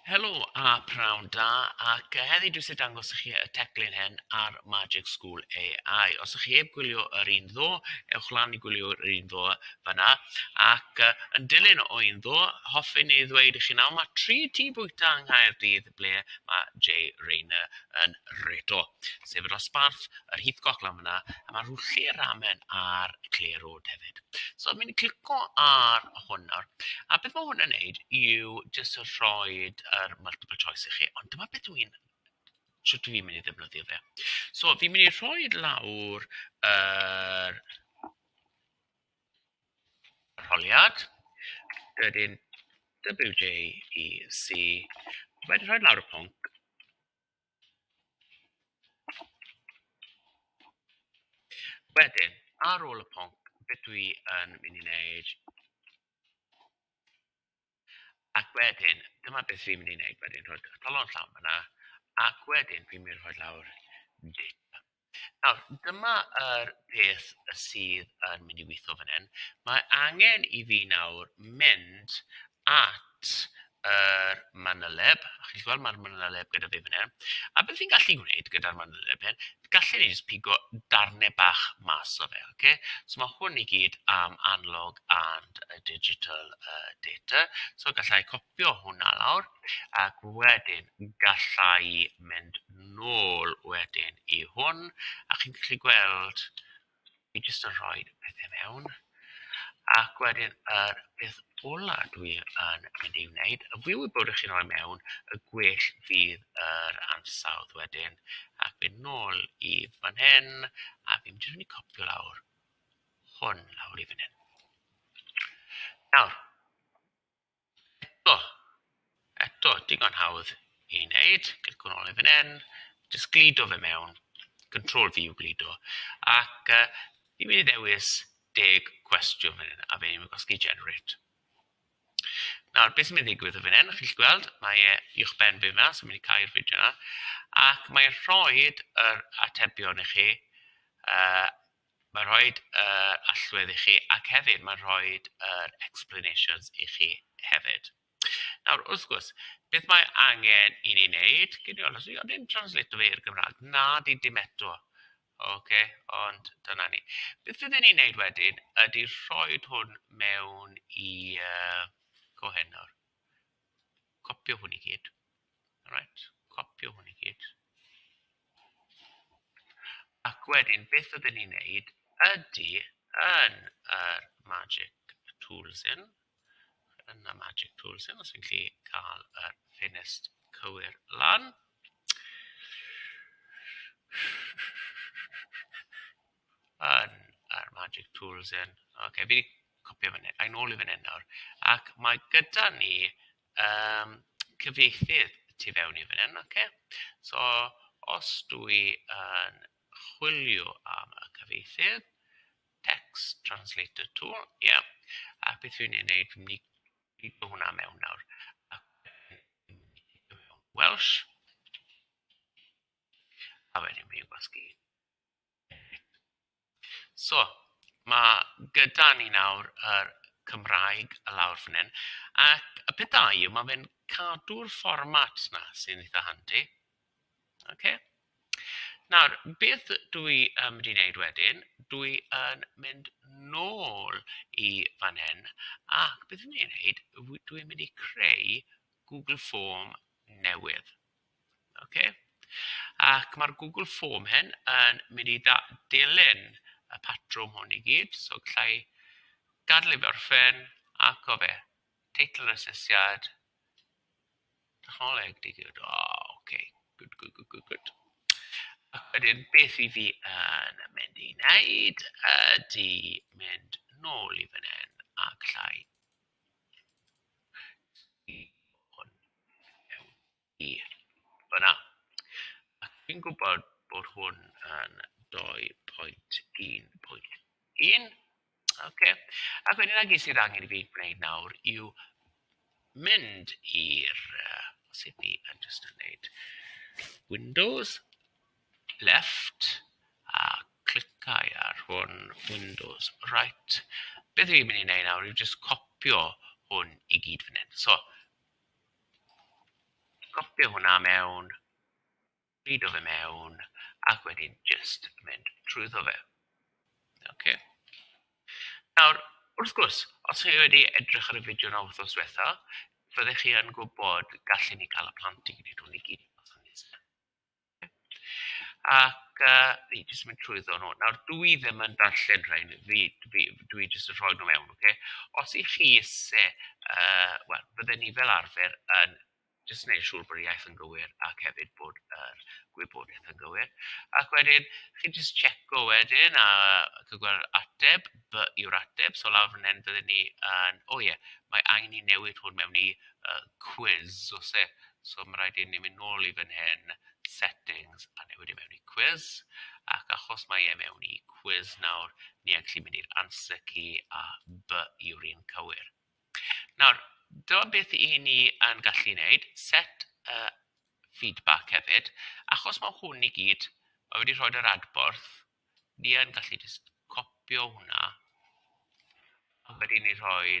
Helo a pnawn da, ac yy, heddi dwi isie dangos i chi y teclyn hen ar Magic School AI. Os ych chi heb gwylio yr un ddo, ewch lan i gwylio yr un ddo fanna, ac yy, yn dilyn o un ddo, hoffwn i ddweud i chi nawr mae tri tŷ bwyta yng Nghaerdydd ble mae Jay Rayner yn reto, sef y dosbarth, yr Heathcock lan fanna, a mae Rwllti y Ramen a'r Clare Road hefyd. So fi'n clico ar hwn nawr, a beth ma' hwn yn neud yw jyst rhoid yr multiple choice i chi, ond dyma beth dw i'n... shwt dw i'n mynd i ddefnyddio fe. So fi'n mynd i rhoi lawr yr arholiad, wedyn WJEC, wedyn rhoi lawr y pwnc. Wedyn, ar ôl y pwnc, be dwi yn mynd i wneud... Ac wedyn, dyma beth fi'n mynd i wneud wedyn, rhoi eich talon llawn fan'na, ac wedyn fi'n mynd i rhoi lawr data. Nawr, dyma yr peth y sydd yn mynd i weithio fan hyn. Mae angen i fi nawr mynd at yr manyleb. A chi'n gweld mae'r manyleb gyda fi fan hyn. A beth fi'n gallu gwneud gyda'r manyleb hyn, gallu ni jyst pigo darnau bach mas o fe, oce? So mae hwn i gyd am analog and digital uh, data. So gallai copïo Copïo hwnna lawr ac wedyn galla i mynd nôl wedyn i hwn a chi'n gallu gweld fi jyst yn rhoi pethau mewn ac wedyn yr peth ola dwi yn mynd i wneud a fi'n gwybod bod chi'n rhoi mewn y gwell fydd yr ansawdd wedyn ac mynd nôl i fan hyn a fi'n jyst mynd i copïo lawr hwn lawr i fan hyn. Nawr O, eto, digon hawdd i wneud, cliciwch nôl i fan hyn, jyst gludo fe mewn, control V yw gludo, ac uh, fi'n mynd i ddewis deg cwestiwn fan hyn, a fe ni'n gosgi generate. Nawr, beth sy'n mynd i ddigwydd o fan hyn, chi'n gweld, mae e i'ch ben fi yma, sy'n mynd i cael i'r fideo yna, ac mae'n rhoi yr atebion i chi uh, Mae'n rhoi yr allwedd i chi ac hefyd mae'n rhoi yr explanations i chi hefyd. Nawr, wrth gwrs, beth mae angen i ni wneud, gyn i olwys, i ddim translato fe i'r Gymraeg, na di dim eto. Oce, ond dyna ni. Beth fydden ni'n neud wedyn ydy rhoi hwn mewn i uh, Cohenor. Copio hwn i gyd. Alright, copio hwn i gyd. Ac wedyn, beth ydyn ni'n neud ydy yn yr Magic Tools yn, yn y Magic Tools yn, os fi'n gallu cael yr ffenest cywir lan. yn yr magic tools yn. Ok, fi wedi copio fan hyn, a'n ôl i fan hyn nawr. Ac mae gyda ni um, cyfieithydd tu fewn i fan hyn, ok? So, os dwi yn chwilio am y cyfieithydd, text translator tool, ie. Yeah. A beth fi'n ei wneud, fi'n mynd i gyd hwnna mewn nawr. Welsh. A wedyn fi'n gwasgu So, mae gyda ni nawr yr Cymraeg y lawr fan hyn. Ac y peth da yw, mae fe'n cadw'r fformat na sy'n eitha handi. Okay. Nawr, beth dwi yn mynd i wneud wedyn, dwi yn mynd nôl i fan hyn, ac beth dwi'n mynd i wneud, dwi'n mynd i creu Google Form newydd. Ok ac mae'r Google form hyn yn mynd i da- dilyn y patrwm hwn i gyd so galla i gadael i fe orffen ac o fe teitl yr asesiad technoleg digid o ok good good good good good ac wedyn beth i fi yn mynd i wneud ydy mynd nôl i fan hyn a galla i Dwi'n gwybod bod hwn yn dou pwynt un pwynt un. Ocê, ac wedyn y gwir sydd angen i fi gwneud nawr yw mynd i'r yy sut 'y ni yn jyst yn wneud Windows. left a cliciau ar hwn Windows right beth dwi'n mynd i wneud nawr yw jyst copio hwn i gyd fan hyn so copio hwnna mewn reid o fe mewn ac wedyn jyst mynd trwyddo fe ok nawr wrth gwrs os chi wedi edrych ar y fideo na wythnos diwetha fyddech chi yn gwybod gallen ni cael y plant i gyd i gyd Ac yy fi'n jyst mynd trwyddo nhw. Nawr dw i ddim yn darllen rhain, fi fi dw i jyst yn rhoi nhw mewn ocê. Os 'y chi isie yy wel bydden ni fel arfer yn jyst wneud siŵr bod yr iaith yn gywir ac hefyd bod yr gwybodaeth yn gywir ac wedyn chi'n jyst tsieco wedyn a chi'n gweld ateb, fy yw'r ateb, so lawr fan hyn fydden ni yn... o ie mae angen i ni newid hwn mewn i yy cwis o's e? So mae'n rhaid i ni mynd nôl i fan hyn, settings, a newid e mewn i quiz. Ac achos mae e mewn i quiz nawr, ni ac sy'n mynd i'r answer key a B yw'r un cywir. Nawr, dyma beth i ni yn gallu wneud, set y feedback hefyd. Achos mae hwn i gyd, mae wedi rhoi yr adborth, ni yn gallu just copio hwnna. A wedyn ni rhoi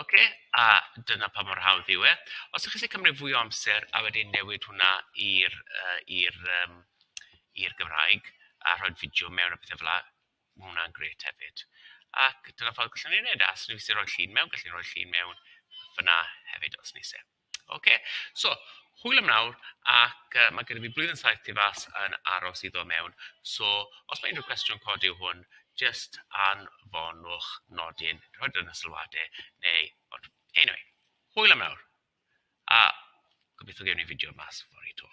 Ok, a dyna pa mor hawdd yw e. Os chi'n gallu cymryd fwy o amser a wedyn newid hwnna i'r yy i'r yym i'r Gymraeg a rhoi'r fideo mewn a pethe fela, ma' hwnna'n grêt hefyd. Ac dyna ffordd gallwn ni wneud e. A os ni isie rhoi llun mewn, gallu rhoi llun mewn fan'na hefyd os ni isie. Ocê, so hwyl am nawr ac yy ma' gynno fi blwyddyn saith tu fas yn aros i ddod mewn, so os ma' unrhyw cwestiwn codi yw hwn jyst anfonwch nodyn, rhoid o yn y sylwadau neu ond eniwe, hwyl am nawr a gobeithio gewn ni fideo mas fory 'to.